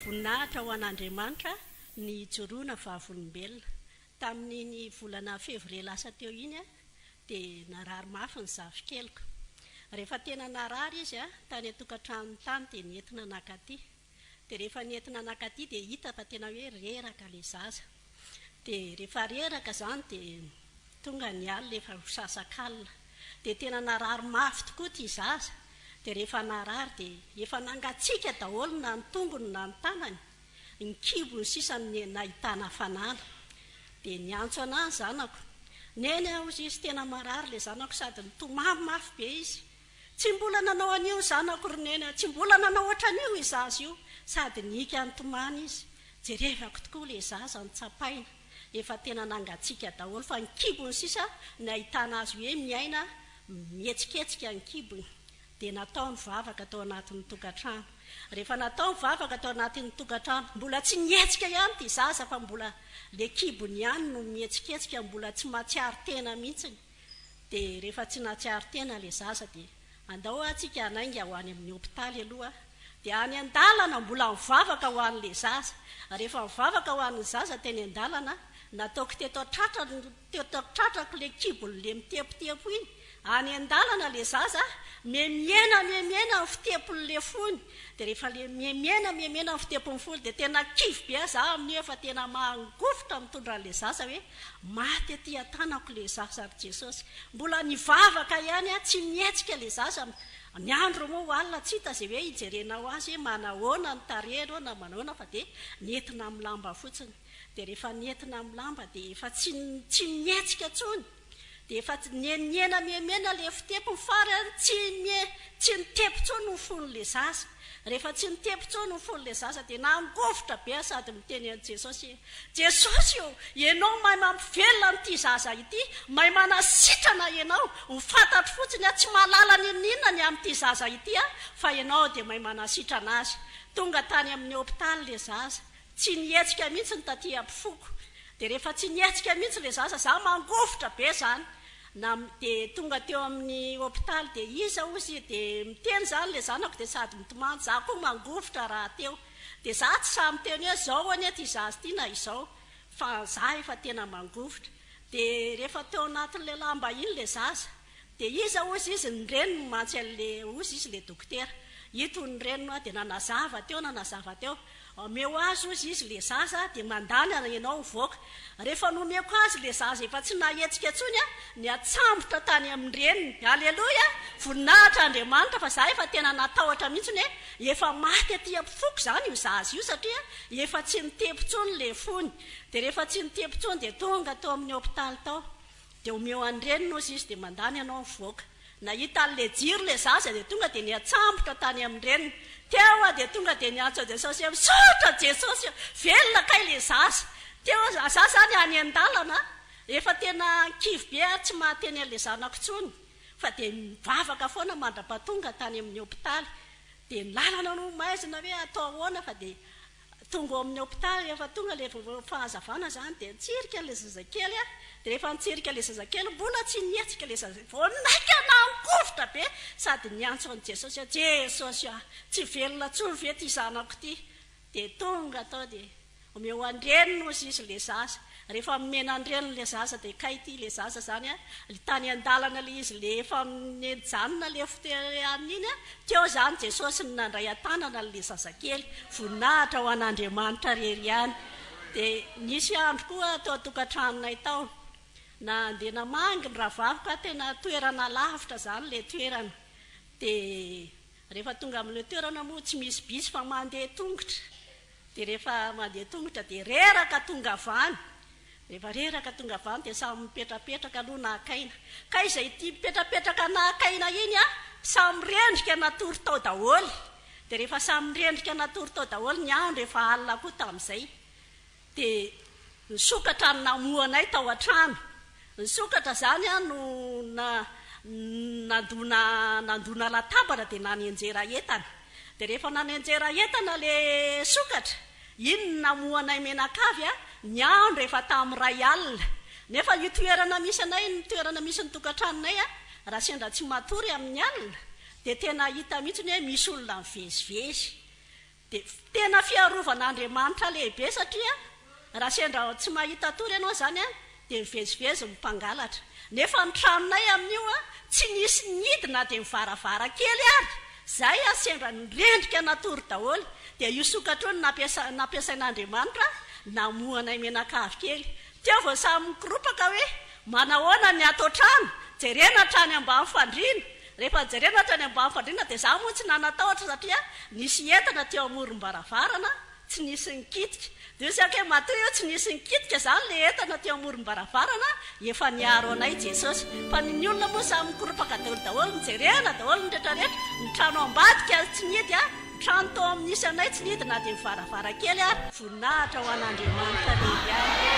Voninahitra ho an'Andriamanitra ny hijoroana vavolombelona. Tamin'iny volana fevrier lasa teo iny dia narary mafy ny zafikeliko. Rehefa tena narary izy tany an-tokantranony tany dia nentina nakaty. Dia rehefa nentina nakaty dia hita fa tena hoe reraka ilay zaza. dia rehefa reraka izany dia tonga ny alina efa ho sasakalina dia tena narary mafy tokoa ity zaza dia rehefa narary dia efa nangatsiaka daholo na ny tongony na ny tanany, ny kibony sisa no nahitana hafanana dia niantso anah ny zanako, Neny ah hozy izy tena marary ilay zanako sady nitomany mafy be izy Tsy mbola nanao an'io zanako ry Neny a! Tsy mbola nanao ohatran'io i zaza io! Sady nihiaka nitomany izy. Jerevako tokoa ilay zaza no tsapaina efa tena nangatsiaka daholo fa ny kibony sisa no nahitana azy hoe miaina mihetsiketsika ny kibony. Dia natao ny vavaka tao anatin'ny tokantrano. Rehefa natao ny vavaka tao anatin'ny tokantrano, mbola tsy nihetsika ihany ity zaza fa mbola ilay kibony ihany no mihetsiketsika, mbola tsy mahatsiaro tena mihitsiny. de refa tsy natsiaro tena le zaza de andao a tsika hanainga ho any aminy hopitaly aloha de any andalana mbola mivavaka ho anle zaza refa mivavaka ho an'ny zaza teny andalana nataoko teto an-tratrany teto an-tratrako le kibony le mitepotepo iny any andalana le zaza memiena memiena ny fitepony le fony de refa le memiena memiena ny fitepony fony de tena kivy be aza aho amin'io efa tena mangofotra mitondra anle zaza hoe Maty aty an-tanako ilay zaza ry Jesosy. Mbola nivavaka ihany aho, tsy nihetsika ilay zaza. Ny andro moa ho alina, tsy hita izay hoe hijerenao azy hoe manahoana ny tarehiny hoe na manahoana fa dia nentina amin'ny lamba fotsiny. Dia rehefa nentina amin'ny lamba dia efa tsy tsy nihetsika intsony. Dia efa tsy nienihena miemena le fitepo ny fary an, tsy mie, tsy nitepo tsony ny fony le zaza. Rehefa tsy nitepo tsony ny fony le zaza dia nangovitra be an sady miteny an Jesosy hoe, Jesosy ô, Ianao mahay mampivelona an ity zaza ity, mahay manasitrana Ianao, ho fantatro fotsiny an tsy mahalala ninoninona ny amin'ity zaza ity an, fa Ianao dia mahay manasitrana azy. Tonga tany amin'ny hopitaly le zaza, Tsy nihetsika mihitsy ny taty ampifoko dia rehefa tsy nihetsika mihitsy ilay zaza za mangovitra be zany na dia tonga teo amin'ny hopitaly dia iza ozy dia miteny zany ilay zanako dia sady mitomany za koa mangovitra raha teo dia za tsy sahy miteny hoe zao anie ity zaza ity na izao fa za efa tena mangovitra dia rehefa teo anatin'ilay lamba iny ilay zaza Dia iza hozy izy ny reniny mantsy anle hozy izy le dokotera ito ny reniny hoa dia nanazava teo nanazava teo omeo azy hozy izy le zaza dia mandany ary ianao hivoaka rehefa nomeko azy le zaza efa tsy nahetsika tsony a niatsambotra tany aminy reniny aleloia voninahitra Andriamanitra fa za efa tena natahotra mihintsy ny hoe efa maty aty ampifoko zany io zaza io satria efa tsy nitepy tsony le fony dia rehefa tsy nitepy tsony dia tonga tao aminy hopitaly tao Dia omeo an'i reniny ozy izy dia mandany anao mivoaka. Nahita an'ilay jiro ilay zaza dia tonga dia niatsambotra tany amin'ny reniny. Teo aho dia tonga dia niantso Jesosy hoe misaotra Jesosy a! Velona kay ilay zaza. Teo aho, za za zany any an-dalana efa tena kivy be ary tsy mahateny an'ilay zanako intsony fa dia mivavaka foana mandra-pahatonga tany amin'ny hopitaly. Dia ny lalana no maizina hoe atao ahoana fa dia Tonga ao amin'ny hopitaly, rehefa tonga ilay fahazavana izany dia nitsirika ilay zazakely aho, dia rehefa nitsirika ilay zazakely mbola tsy nihetsika ilay zazakely, vao naika nahan-kovitra be sady niantso an'i Jesosy aho, Jesosy ah, tsy velona intsony ve ity zanako ity? Dia tonga tao dia omeo an-dreniny ozy izy ilay zaza, Rehefa omena ny reniny le zaza de kay ty le zaza zany a, le tany andalana le izy le efa nijanona le fitereany iny a, teo zany Jesosy no nandray antanana anle zazakely, voninahitra ho an'Andriamanitra rery ihany, de nisy andro koa teo atokantranonay tao nandeha namangy ny rahavaviko a, tena toerana lavitra zany le toerana, de Rehefa tonga amin'ilay toerana moa tsy misy bus fa mandeha tongotra, dia rehefa mandeha tongotra dia reraka tongavany, rehefa reraka tongavany dia samy mipetrapetraka aloha naka aina, kay izay tia mipetrapetraka naka aina iny an, samy rendrika natory tao daholo, dia rehefa samy rendrika natory tao daholo ny andro efa alina koa tamin'izay, Dia nisokatra ny namohanay tao an-trano. Nisokatra izany aho no nandona nandona latabatra dia nanenjera entana. Dia rehefa nanenjera entana ilay sokatra, iny no namohanay menakavy an! Ny andro efa tamin'ny iray alina. Nefa io toerana misy anay, ny toerana misy ny tokantranonay an, raha sendra tsy matory amin'ny alina dia tena hita mihitsy hoe misy olona mivezivezy. Dia tena fiarovana Andriamanitra lehibe satria raha sendra tsy mahita tory ianao izany dia mivezivezy ny mpangalatra. Nefa ny tranonay amin'io tsy nisy nihidy na dia ny varavarankely ary. Izay sendra nirendrika natory daholo dia io sokatra io no nampiasain'Andriamanitra namohanay menakavy kely. Teo vao samy mikoropaka hoe manahoana ny ato an-trano, jerena hatrany ambany fandriana. Rehefa jerena hatrany ambany fandriana dia izaho moa tsy nanatahotra satria nisy entana teo amorom-baravarana tsy nisy nikitika. Dia hoy Zaka hoe matoa io tsy nisy nikitika izany ilay entana teo amorom-baravarana, efa niaro anay Jesosy. Fa ny ny olona moa samy mikoropaka daholo daholo, nijerena daholo ny rehetra rehetra, ny trano ambadika tsy nihidy, ny trano tao amin'ny nisy anay tsy nihidy na dia ny varavarankely ary. Voninahitra ho an'Andriamanitra Lehibe amiko.